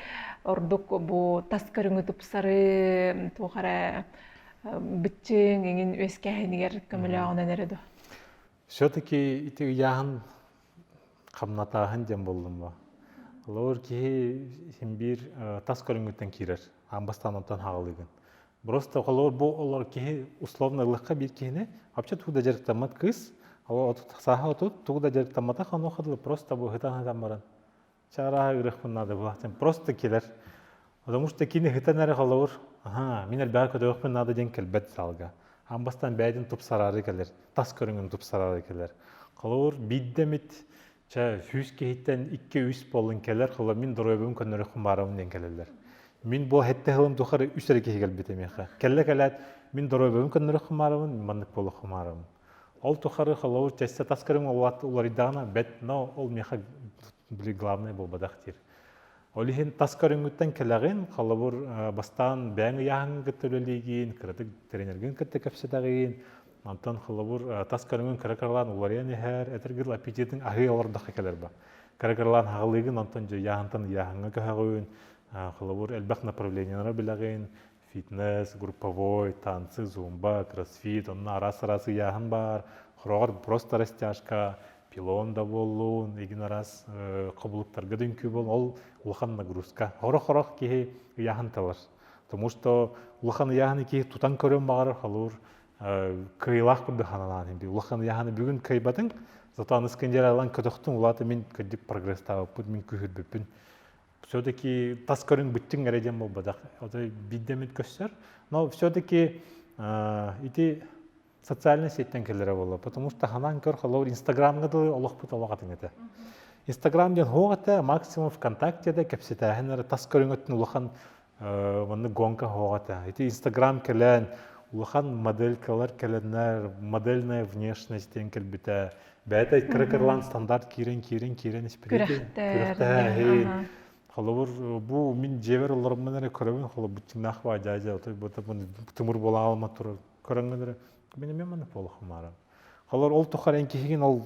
ордук бу тас көрүҥү тупсары туохара бүччүҥ иҥин үөскээһинигэр көмөлөөҕүнэн эрэ ду все-таки ити ыйааһын хамнатааһын диэн буоллум бо холобур киһи син биир тас көрүҥүттэн киирэр аан бастаан онтон хаалыыгын просто холобур бу олор киһи условно ыллыкка биир киһини вообще тугу да дьарыктаммат кыыс сааһа отут тугу да дьарыктамматах онуоха дылы просто быһытан сытан баран чарааһа үрүхпун наада буолаахтан просто келер потому что кини ыһытан эрэ холобур аха мин элбэҕи көтөҕөхпүн наада диэн кэлбэт залга ам бастан бэйэтин тупсараары кэлэр тас көрүҥүн тупсараары кэлэр холобур биирдэ эмит чэ сүүс киһиттэн икки үс буоллун кэлэр холобур мин доруобуйам көннөрөххүн баарабын диэн кэлэллэр мин бу хэттэ сылым тухары үс эрэ киһи кэлбит эмиэхэ кэллэ кэлээт мин доруобуйам көннөрөххүн баарабын мин маннык буолаххын баарабын Ол тухары холобур чэсте тас көрүҥ уот уларыйдаҕына бэт, но ол миэхэ били главный буолбатах диир. Ол иһин тас көрүҥҥүттэн кэлэҕин, холобур бастаан бэйэҥ ыйааһыҥҥын кытта үлэлиигин, кыратык тренергин кытта кэпсэтэҕин, онтон холобур тас көрүҥүн кыра кыралаан уларыйан иһэр, этэр гын аппетитиҥ аһыы олордоххо кэлэр ба. Кыра кыралаан хаҕылыыгын, онтон дьэ ыйааһынтан ыйааһыҥҥа көһөҕүн, холобур элбэх направлениелара билэҕин, фитнес, групповой, танцы, зумба, кроссфит, онно араас-араас ыйааһын баар. Хороҕор просто растяжка, пилон да буоллун, игин араас кобулуктарга дүҥкү бол, ол улахан нагрузка. Хорох-хорох киһи ыйааһын талар. Тому что улахан ыйааһын киһи тутан көрөн баҕарар халуур кыйылаах курдук ханалаан инди улахан ыйааһыны бүгүн кыйбатың зато аны скандералан көтөхтүн улаата мин көддүк прогресстаабыппыт мин күһүрбүппүн все-таки тас көрүҥ бүттүҥ эрэ диэн буолбатах. Ото биддэмит көссөр. Но все-таки ити социальнай сеттен кэллэрэ буолла. Потому что ханаан көр холобур Инстаграмга дылы олохпут олохатын этэ. Инстаграм диэн хоох этэ, максимум ВКонтакте да кэпсэтээһин эрэ тас көрүҥөттүн улахан маннык гонка оһох этэ. Ити Инстаграм кэлэн улахан моделькалар кэлэннэр модельная внешность диэн кэлбитэ. Бэйэтэ кыракырлаан стандарт киирэн киирэн киирэн испиритин холобур бу мин дьиэбэр олороммун эрэ көрөбүн холобур быччыҥнаах баа дьаа дьаа тымыр буола алма турар көрөҥгөнөрө мен мен мана полохамара Холор ол тухар эн киһигин ол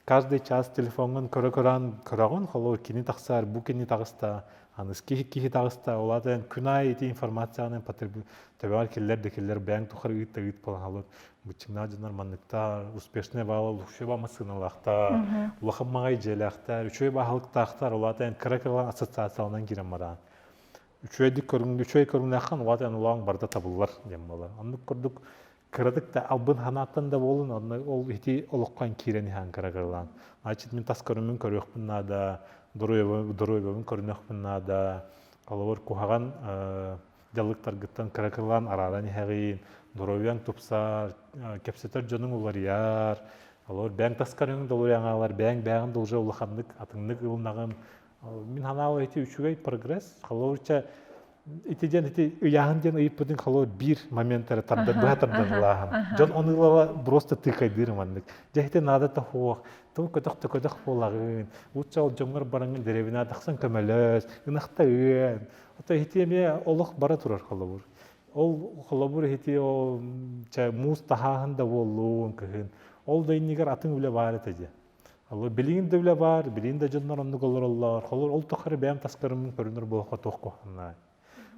каждый час телефоҥҥун көрө-көрөөн көрөҕүн, холор кини тахсаар, бу кини таҕыста, аныс киһи киһи таҕыста, ол аата эн күнай ити информацияны потреб төбөҕөр киллэр да киллэр бэйэҥ тухары ыыт да ыыт болан халыр быччыҥнаах дьоннор манныкта успешный баала лукшеба массыыналаахтар, улахан маҕай дьиэлээхтэр, үчүгэй баһылыктаахтар, ол аата эн кыра-кыра ассоциацияланан киирэн бараан. Үчүгэйдик көрүҥ, үчүгэй көрүҥнээххин, ол аата эн улаан барда табыллар диэн буолар. Оннук курдук кыратык да албын ханааттан да буолун онно ол ити олоххо киирэн иһэн кырагырлаан значит мин тас көрүммүн көрүөхпүн наада доруобабын көрүнүөхпүн наада олобор куһаҕан дьалыктаргыттан кыракырлаан арааран иһэҕин доруобуяң тупсар кэпсэтэр дьонуң уларыйар олор бээн тас көрүҥүн долуйаҥаалар бээн бээҕин долже улаханнык атыҥнык ылынаҕын Мин ханаал эти үчүгэй прогресс. Холобурча ити диэн ити ыйааһын диэн ыйыппытын холобур биир момент эрэ тардан быһа тардан ылааһын. Дьон оны ылала просто тыыкайдыыр маннык. Дьэ ити наада да хуох. Тыл көтөх да көтөх буолаҕын. Лучше ол дьоҥҥор бараҥҥын деревина тахсан көмөлөс, ынахта үөн. Ото иһити эмиэ олох бара турар холобур. Ол холобур иһити ол муус таһааһын да буоллун кыһын. Ол да иннигэр атын үлэ баар этэ дии. билигин да үлэ баар билигин да дьоннор оннук олороллор холор ол тухары бэйэм таскарыммын көрүнөр буохха туох куһаннаай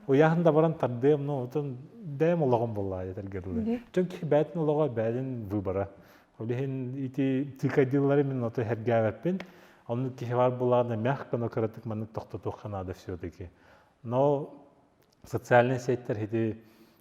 уйаһын да баран тардыам ну отон бэйэм олоҕум буллаа этэргэрле дьон киһи бээтин олоҕо бээтин выбора олиһин ити тыкадилары мин ото хергәвеппин онну киһи бар булааны мях кано кыратык маннык тохтотуохха наада все-таки но социальный сеттер хити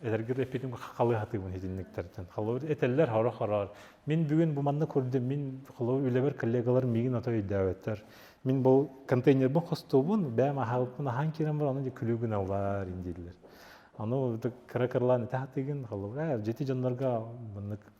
Эдэргэр эппитим халыһатыыбын итинниктэртэн. Холобур, этэллэр хорох-хороор. Мин бүгүн бу манна көрдüm, мин холобур үлэбэр коллегалар миигин ото өйдөөбөттөр. Мин бу контейнербын хостуубун, бэйэм аһаабыппын аһаан киирэн баран аны күлүү гыналлар дииллэр. Аны кыра кырлаан этэ хатыгын, холобур, дьити дьоннорго маннык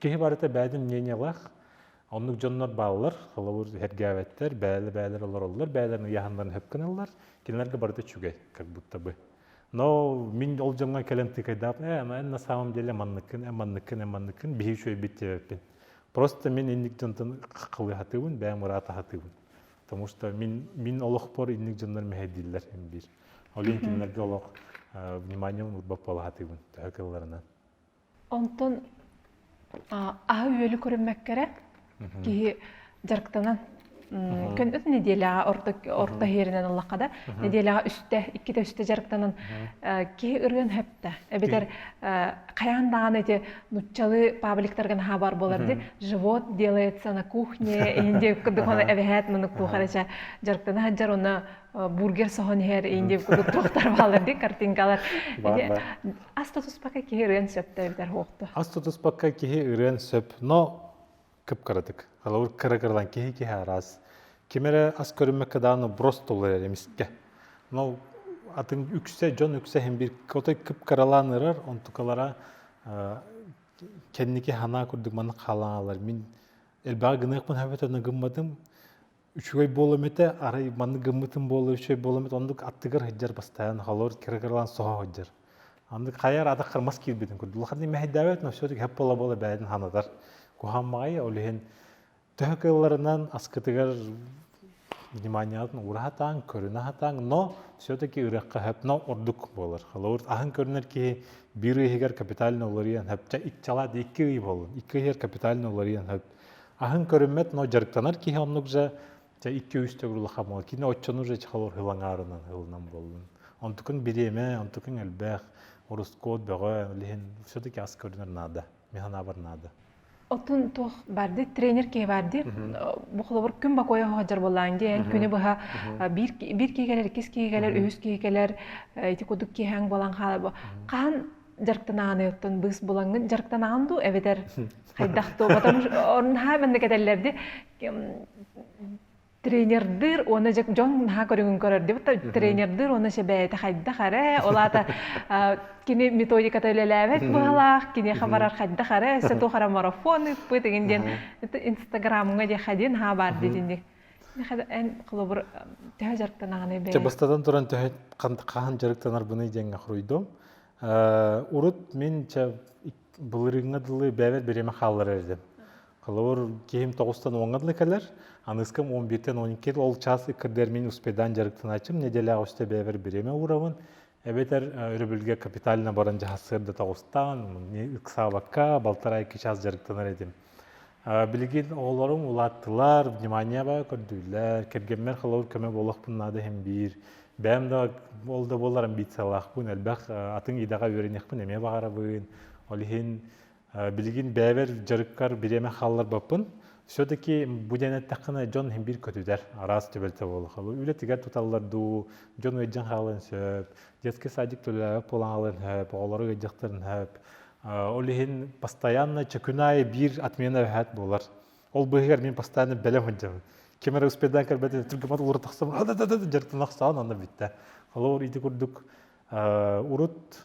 Киһи барыта бэйэтин мнениялаах, оннук дьоннор бааллар, холобур, эргээбэттэр, бэйэлэр-бэйэлэр олороллор, бэйэлэрин ыйааһыннарын хөпкөнөллөр, кинилэргэ барыта үчүгэй, как будто бы. Но мин ол дьоҥҥо кэлэн тыкайдаабын, ээ, эн на самом деле манныккын, эн манныккын, эн манныккын, биһи үчүгэйбит диэбэппин. Просто мин инник дьонтон халыыһатыыбын, бэйэм ыраата аһатыыбын. Потому что мин, мин олохпор инник дьоннор мэһэйдииллэр эн биир. Ол иһин кинилэргэ олох вниманием урбап буола аһатыыбын төһө кылларынан. Онтон аһы-үөлү көрүммэккэ эрэ киһи дьарыктанан көндөс нэдиэлэҕэ орто иһэринэн ыллахха да нэдиэлэҕэ үстэ иккитэ үстэ дьарыктанан киһи ырыан сөптө эбэтэр хайаан даҕаны ити нуччалыы пабликтарга наһаа бар буолар ди живот делается на кухне иһин диэн курдук ону эбэһээт маны туох эрэ ча дьарыктана сылдьар онно бургер соһон иһэр иһин диэн курдук туохтар баалар ди картинкалар Ас тутуспакка киһи ырыан сөптө эбэтэр уохта. Ас тутуспакка киһи ырыан сөп, но кып-кыратык. Холобур, кыра-кыралан киһи-киһи араас. Ким эрэ ас көрүммэккэ дааны брос толуйар эмискэ. Но атын үксэ дьон үксэ һин бир котой кып-кыралаан ырар, онтукалара кэнники ханаа курдук маннык хаалаалар. Мин элбэҕи гыныахпын хөбөтө гымматым. үчүгэй буолам этэ арай маннык гыммытым буола үчүгэй буолам эт оннук аттыгар сылдьар бастаан холор кирагарлаан соһо сылдьар андык хайар адах кармас киирбитин курдук улаханный мэһэйдаабэт но все таки хап буола буола бэйэн ханатар куһаммаҕай ол иһин төһө кыылларынан аскытыгар вниманиятын ура хатаан көрүнэ хатаан но все таки ырыахха хөп но ордук буолар холобур аһын көрүнэр киһи биир ыйыһыгар капитально уларыйан хөп ча икчала икки ый буоллун икки ыйыгар капитально уларыйан хөп Аһын көрүммэт, но дьарыктанар киһи оннук же дьэ икки-үстэ улахамыла кине отчонур же чехалор хылаҥаарынан ылынан боллун. Онтукун бириэмэ, онтукун элбэх, ороскуот бөҕө, лиһин все-таки ас көрүнэр наада, механабар наада. Отун туох барды тренер киһи барды бу холобур күн бакоя хоһажар болаан диэн күнү быһа биир киһи киһи кэлэр үһүс киһи кэлэр ити кудук киһаң болан хаалабы хаан дьарыктанааны оттон быыс булаҥҥын дьарыктанаан дуу эбэтэр хайдах то потом наһаа маннык этэллэрди тренердыыр уонна дьон наһаа көрүҥүн көрөрдү тренердыыр уонна сэбээти хайдах эрэ ол аата кини методиката үлэлээбэт быһалаах киниэхэ барар хайдах эрэ эссе туох эрэ марафон ыыппыт игин диэн инстаграмҥа диэхэ диэн haa баар дитинник холобур төһө дьарыктанаҕыный бэйэ? бастатан туран төһө хаһан дьарыктанарбыный диэҥҥэ хоруйдум урут мин чэ былырыыҥҥа дылы бэйэбэр бириэмэ хаалларар этим холобур киһим тоҕустан уоҥҥа дылы кэлэр аныыскам он бииртэн он икки ол чаас ыккырдыгар мин успейдаан дьарыктанааччым нэдиэлэҕэ үстэ бэйэбэр бириэмэ уурабын эбэтэр өрөбүлгэ капитально баран дьаһастыыр да тоҕустаан ыксаабакка балтарай кичаас дьарыктанар этим билигин оҕолорум улааттылар вниманиеба көрдүүллэр кэргэммэр холобур көмө буолуохпун наада иһин биир бэйэм да ол да буоллар амбициялаахпын элбэх атын идэҕэ үөрэниэхпин эмиэ баҕарабын ол иһин Билигин бэйэбэр дьарыккар бириэмэ хаалларбаппын. Все-таки бу диэн эттэххинэ дьон биир көтүтэр, араас түбэлтэ буолуха. Үлэтигэр туталлар дуу, дьон ыйдьан хаалыан сөп, детский садик төлөөбөт буолан хаалыан сөп, оҕолору ыйдьахтарын сөп. Ол иһин постоянно чөкүнай биир отмена өһөөт буолар. Ол быыһыгар мин постоянно бэлэм сылдьабын. Ким эрэ успейдан көрбөтүн түргэмат улуура тахсам, дьартан ахсаан анна бүттэ. Холобур, ити курдук урут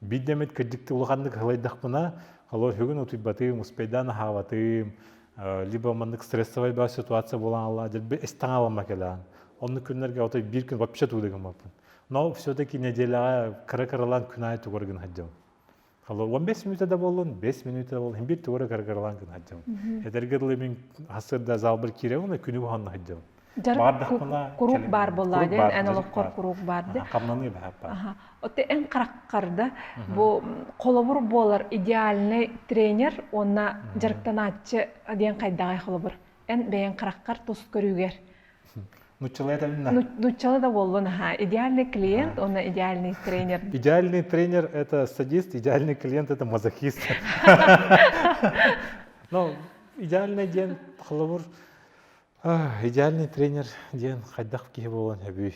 Бид эмит кырдьыктыы улаханнык халайдахпына, холуоһугун утуйбатыым, успайдаан аһаабатыым, либо маннык стрессовай баар ситуация буолан ала дэлби эстаҥа аламма кэлээн. Оннук күннэргэ отой биир күн вообще туулигыммаппын. Но все-таки неделяҕа кыра-кыралаан күн аайы тугар гын сылдьабын. Холо он бес минута да буоллун, бес минута буоллун, иһин биир тугара кыра-кыралаан гын сылдьабын. Эдэргэ дылы мин хасырда зал бір киирэбин, күнү буһанна сылдьабын. куруук баар буоллаҕа диэн эн олоххор куруук баар дэ хамнаныы баһаппат оту эн хараххарда бу холобур буолар идеальный тренер уонна дьарыктанааччы диэн хайдаҕай холобур эн бэйэн хараххар тус көрүүгэр нуччалай да нуччалай да буоллун аха идеальный клиент уонна идеальный тренер идеальный тренер это садист идеальный клиент это мазохист но идеальный диэн холобур идеальный тренер диэн хайдах киһи буолан сөбүй?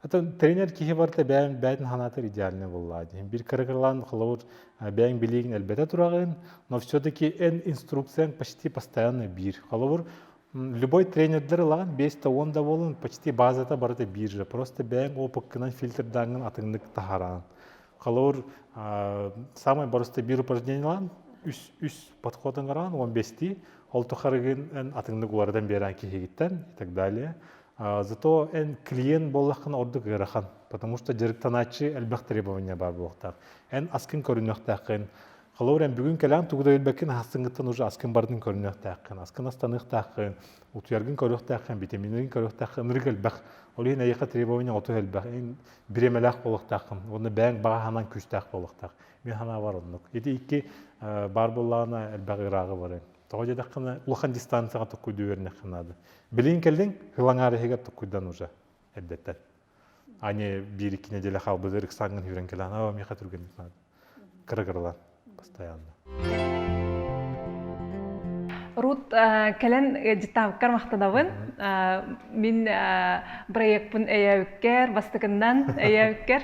Атын тренер киһи барыта бэйэҥ бэйэтин санаатыр идеальный буоллаа дии. Бир кыргырлаан холобур бэйэҥ билигин элбэтэ тураҕын, но все-таки эн инструкцияң почти постоянно бир. Холобур, любой тренердер ылаҕын бэста он да буолан почти базата барыта бир же. Просто бэйэҥ опыккынан фильтрдааҥҥын атыннык таһараан. Холобур, самый боростый бир упражнениелаан үс үс подходун караан он бести ол тухарыгын эн атыңнык улардан берен киһигиттен и так далее зато эн клиент боллахкын ордук ыарахан потому что дьарыктанааччы элбэх требования бар буолуохтаах эн аскын көрүнүөхтээххин холобур эн бүгүн кэлээн тугуда өлбөккүн ахастынгыттан уже аскын бардын көрүнүөхтээххин аскын астаныахтааххын утуяргын көрүөхтээххин витаминерин көрүөхтээххин ырык элбэх ол иһин эйиэхэ требования оту элбэх эн бириэмэлээх буолуохтааххын уонна бэйэҥ баҕаһынан күүстээх буолуохтаах мин санаабар оннук ити икки баар буоллаҕына элбэх ырааҕы барыҥ тоҕо диэтэххинэ улахан дистанцияҕа туккуйдуу үөрэннэххэ наада билигин кэллиҥ һылаҥаар иһигэр туккуйдан уже эрдэттэн ани биир-икки нэдиэлэ хаалбыт ырыксааҥҥын сүүрэн кэлэн оо миэхэ түргэнник наада кырыгырылан постоянно Рут кэлэн дьыттаабыккар махтанабын мин проекпын өйөөбүккэр бастакыннан өйөөбүккэр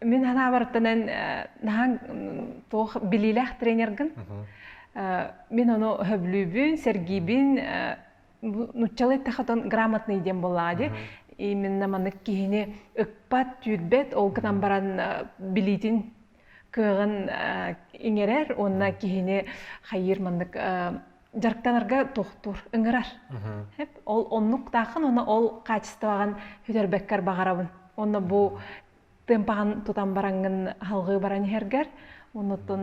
мин санаабарыттан эн туох билиилээх тренергин мин ону сөбүлүүбүн сэргиибин нуччалай тахатан грамотный диэн буоллаҕа дии именно маннык киһини ыкпат түүрбэт ол гынан баран билиитин кыаҕын иҥэрэр уонна киһини хайыыр маннык дьарыктанарга тохтуур ыҥырар ол оннук тааххын уонна ол качествоҕын бүтэрбэккэр баҕарабын уонна бу темпаҕын тутан бараҥҥын аһылҕыы баран иһэргэр оннуттан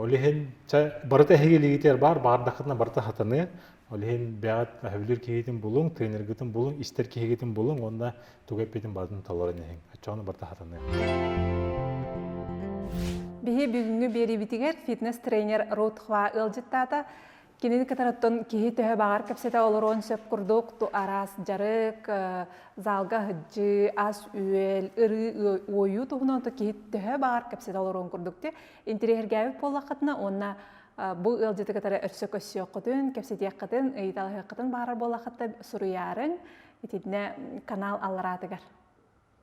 Ол иһин барыта эһиги илиигитигэр баар, баардаххытына барыта сатаныа. Ол иһин бэйэҕит сөбүлүүр киһигитин булуҥ, тренергитин булуҥ, истэр киһигитин булуҥ уонна тугу эппитин барытын толорон иһиҥ. Оччоҕуна барыта сатаныа. Биһи бүгүҥҥү биэриибитигэр фитнес-тренер Рутхва ыалдьыттаата. Кинини кытарыттан киһи төһө баҕар кэпсэтэ олоруон сөп курдук, ту араас дьарык, залга аһыдьыы, ас-үөл, ырыы, уойуу туһунан то киһи төһө баҕар кэпсэтэ олоруон курдук те интириэһиргээбит буоллаххытына уонна бу ыалдьыты кытары өссө көссүөххүтүн, кэпсэтиэххитин, ыйыталаһыаххытын баҕарар буоллаххытына суруйаарыҥ итиннэ канал аллараатыгар.